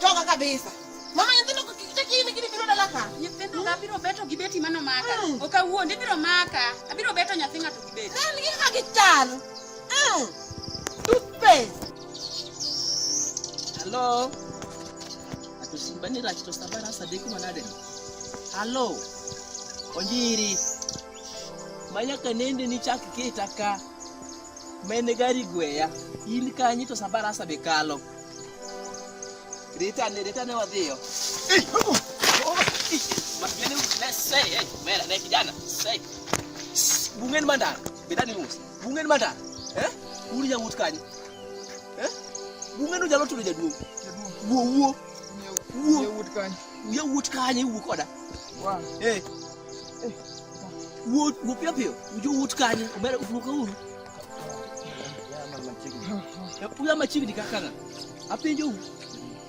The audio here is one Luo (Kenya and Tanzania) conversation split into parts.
Toka kabisa. Mama nyithindo kini kini biro dala ka. Nyithindo ka biro beto gi beti mano maka. Mm. Oka wuondi biro maka. Abiro beto nyathi ng'ato gi beti. Then gin ka gichal. Mm. Toothpaste. Hello. atusimbani rachito sabara sadeki manadeno halo onjiri manyaka nende nichak kita ka mene gari gweya in kanyi to sabara asa be kalo ritane ritane wadhiyo mene mera ne kijana bungen mandana bidani musa Bungen mata. Eh? Uri ja wut kanyo. Eh? Bungen ujalo tudo jaduong'. Wuo wuo. Wuo. Ye wut kanyo. Ye wut kanyo wuo koda. Wa. Eh. eh. Wuo wuo pio pio. Ujo wut kanyo. Ubere ufuka uru. Uya machigni kaka ng'a? Apenjo u.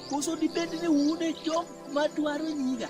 Koso dibed ni un e jok madwaro nyiga?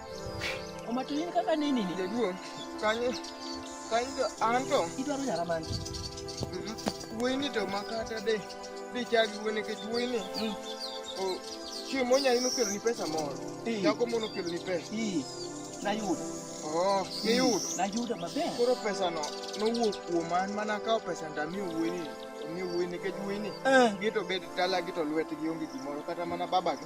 Omato in kaka nini ni? Jaduong', kanyo kanyo anto. Idwaro nyara mani? Wuoyini to makata de de chagi wuo nikech wuoyini mm. chiemo nyari nokeloni pesa moro. Nyako moro nokeloni pesa. Nayudo. Oh, niyudo? Mm, nayudo maber. Koro pesano nowuok kuoma an mana akawo pesa ndamiyo wuoyini. Ni wuoyini nikech wuoyini eh. gito bed dala gito lwetgi onge gimoro kata mana babagi.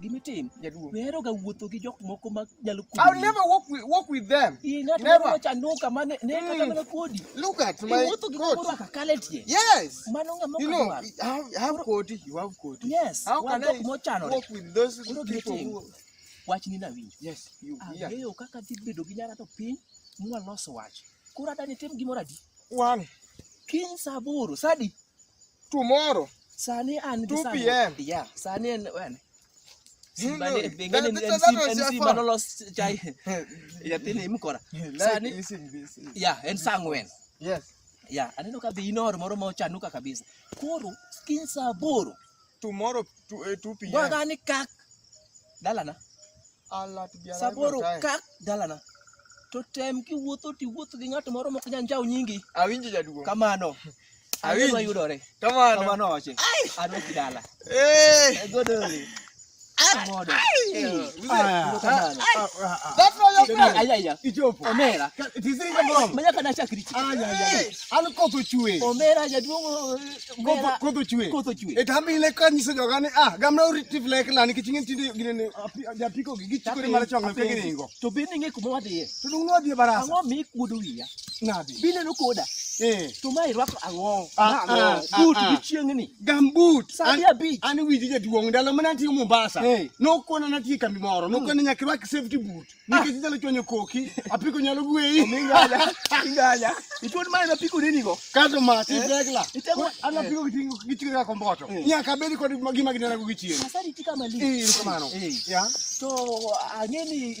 gimitim jaduong' weheroga wuotho gi jok moko ma nyalo kodi. I'll never walk with, walk with them. Ii, ng'at Never. moro chanduka ma ne ne kata Mm. mana kodi. Look at my Iwuotho gi coat. kumoro akakala e tie. Yes. Mano ng'ama You know, okadwar. I have, I have koti, you have koti. Yes, How wan can jok I mochanore. walk with those Koro people gitim. who... Wach ni nawinjo. Yes, you, yeah. Ang'eyo kaka dhi bedo gi nyara to piny mwaloso wach. Koro adani tim gimoro adi? One. Kiny saa aboro, saa adi? Tomorrow. Sani an 2 p.m. Yeah, sani en when? en saa ang'wen aneno ka dhi inoro moro ma ochanuka kabisa koro kiny saa aboro tomorrow to, uh, 2 pm gwa gani kak dalana Allah to biara saboro kak dalana to tem ki wuotho ti wuotho gi ng'at moro mok nyan jaw nyingi awinji jaduong kamano awinji yudore kamano kamano oche adwa kidala eh godoli etamile kanyiso jogani a gamna uritif lek lani kiching'e tinde ginene japiko gi gichikore mara chonga pegini ingo to bende ing'e kuma wadhiye to dung'ne wadhiye barasa ang'o mi kuodo wiya Nade? Bineno koda. Eh. To ma irwako ang'o? Ah, ah, ah, But ah. gi chieng'ni. Gambut. Saa mia abich. An winji jaduong' ndalo mane antie Mombasa. Eh. Nokona natie kambi moro. Hmm. Nokona nyaka irwak safety boot. Nikech inyalo chwanyo koki. Apiko nyalo gweyi. Minganya. Minganya. Ichwod mane napiko nini go? Kato ma ti regla. Eh. Itego an napiko eh. gitingo gitingo ka komboto. Eh. Nyaka bedi kod gima ginena go gichieng'. Sasa nitika mali. Eh, kamano. Ya. To ang'eni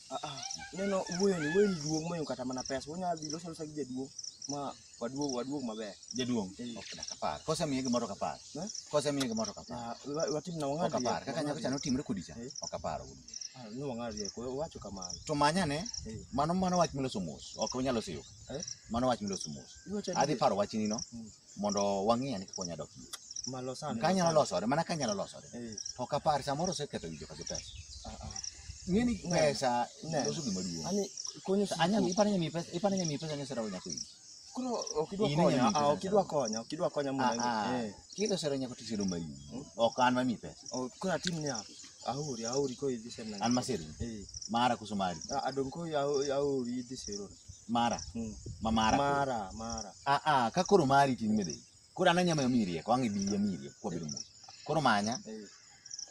Aa, neno wuoyoni wuoyoni duong' moyo kata mana pesa wanyalo dhi loso losa gi jaduong' ma waduog waduog maber jaduong Eh. ok dak apar kose miye gimoro ok apar Eh? kose miye gimoro ok apar Ah, wa- watim na ok wang'ad apar rieko, kaka nyako wang'ad cha notimre kodi cha Eh. ok apar wuod wuoyi. rieko. Ah, ni wang'ad rieko wacho kamano to manyane Eh. mano mano wach miloso mos ok unyalo siyo Eh? mano wach miloso mos Iwacho adhi adier. paro wachni no Mm. mondo wang'iya ni kikonya dok kanyalo losore mana kanyalo losore eh. to kapar samoro oseketho winjo ka gi pesa ah, ah. ng'eni pesa loso gima duong' iparo nyami pesa iparo nyami pesa ni sero nyako winjo koro ok idwa konya ah, ok idwa konya ok idwa konya mondo eh. kilo sero nyako to sero mayu hmm? ok an mami pesa oh, koro atim niya ahuri ahuri ko idhi sero an masero eh. mara kuso mari adong ko ahuri idhi sero mara Mm. ma mara koro. mara mara ah ah ka koro mari ting mede koro ana nyama mi rieko ange bi mi rieko kwa bedo mos koro manya Eh,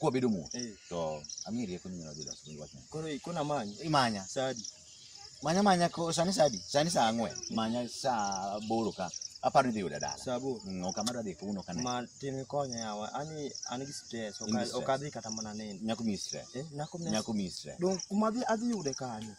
kwa bedo mos eh. to ami rieko ni nyalo dilo sibin wachna koro ikona manyi imanya sadi manya manya ko sani sadi sani saa ang'wen manya saa boro ka aparo ni dhi yuda dala sabo Mm, ok amadwa dhi kuno kane ma tin ikonya yawa ani an gi stress In gi stress. okadhi kata mana neno nyako mi stress Eh, nako mna- nyako mi stress dong kuma adhi adhi yude kanyo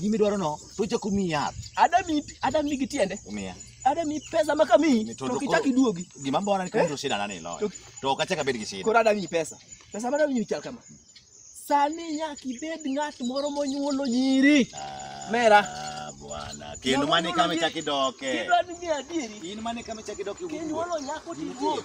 gima idwaro no to chako miyi yath adami adami gi tiende miya adami pesa ma kamiyi Ni to to ok ichak koro- iduogi gima mbona ni kendo shida nani loyo To- to ok achak abed gi shida koro adami pesa pesa ma adami chal kama sani nyaka ibed ng'at moro monyuolo nyiri Ah, Mera. bwana kendo Nyamwandu mane kama ni- ichak idoke kidwa ni ng'e adieri in mane kama ichak idoke kinyuolo nyako tiduog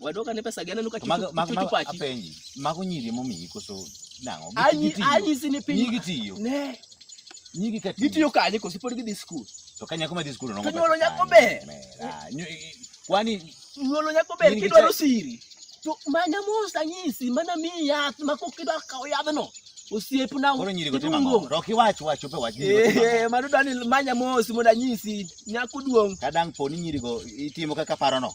wadoka ne pesa gana nuka To mago- mago- chuchu mago- pachi apenji mago nyiri momiyi koso nang'o anyi Gitiyo. anyi sini nyigi piny tiyo ne nyigi ka tiyo gitiyo kanye koso pod gidhi skul to ka nyako madhi skul To nyuolo nyako ber. kwani nyuolo nyako ber In gi kidwaro cha- siri to manya mos anyisi mana miyi yath ma kok idwa kawo yadhno osiepna koro nyiri go timo ang'o? iluongo. to ok iwach wach ope wach nyiri go timo ang'o? Eh, mano dwani manya mos mondo anyisi nyako duong' ka dang' po ni nyiri go itimo kaka parono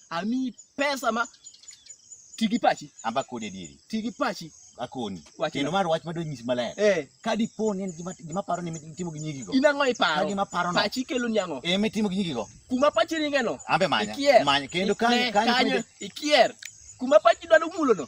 amiyi pesa ma ti gi pachi amba kodi adieri ti gi pachi akoni Wachna. kendo mar wach madwa nyisi maler eh ka dipo ni en gima gima paro ni itimo gi nyigigo in ang'o ka iparo gima parono pachi kelo ni ang'o ema itimo gi nyigigo kuma pachi ringeno ambe manya ikier manya kendo Ne, kanyo kanyo kanyo ikier kuma pachi dwaro mulono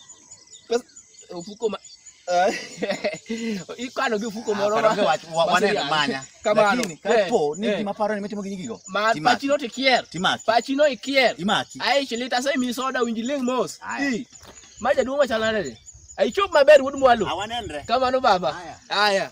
Pesa ofuko ma ikano gi ofuko moro ma waneno manya kamano kapo ni gima paro ni mitimo gi gigo ma pachi no tikier timaki pachi no ikier imaki ai chilita sai mi soda winji leng mos i ma jaduong' machal nade ai chop maber wuod mwalo awanenre kamano baba haya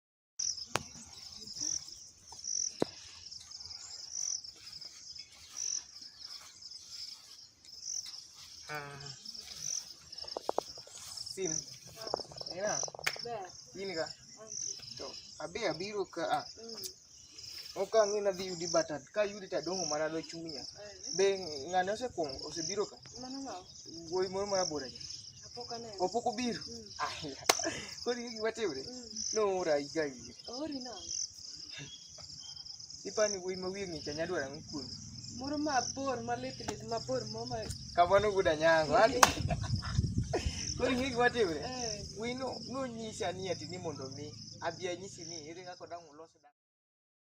Sina. Ina. Be. Iniga. To abe abiru ka a. Mm. ok ang'e nadhi yudi but ka yudi to adong'o mana dho chunya be ng'ane osekuongo osebiro ka wuoyi moro ma abora ja opok obiro koro ing'e gima timre noora higa ire ipani wuoyi ma wiye ng'ich anya dwaro ang'o kuomi Moro mabor malit lit mabor mo ma Kamano guda nyango. Ani. Koro ing'e gima timre? eh Wino nonyisa ni ati ni mondo mi abi anyisi ni ere kaka dang' ulos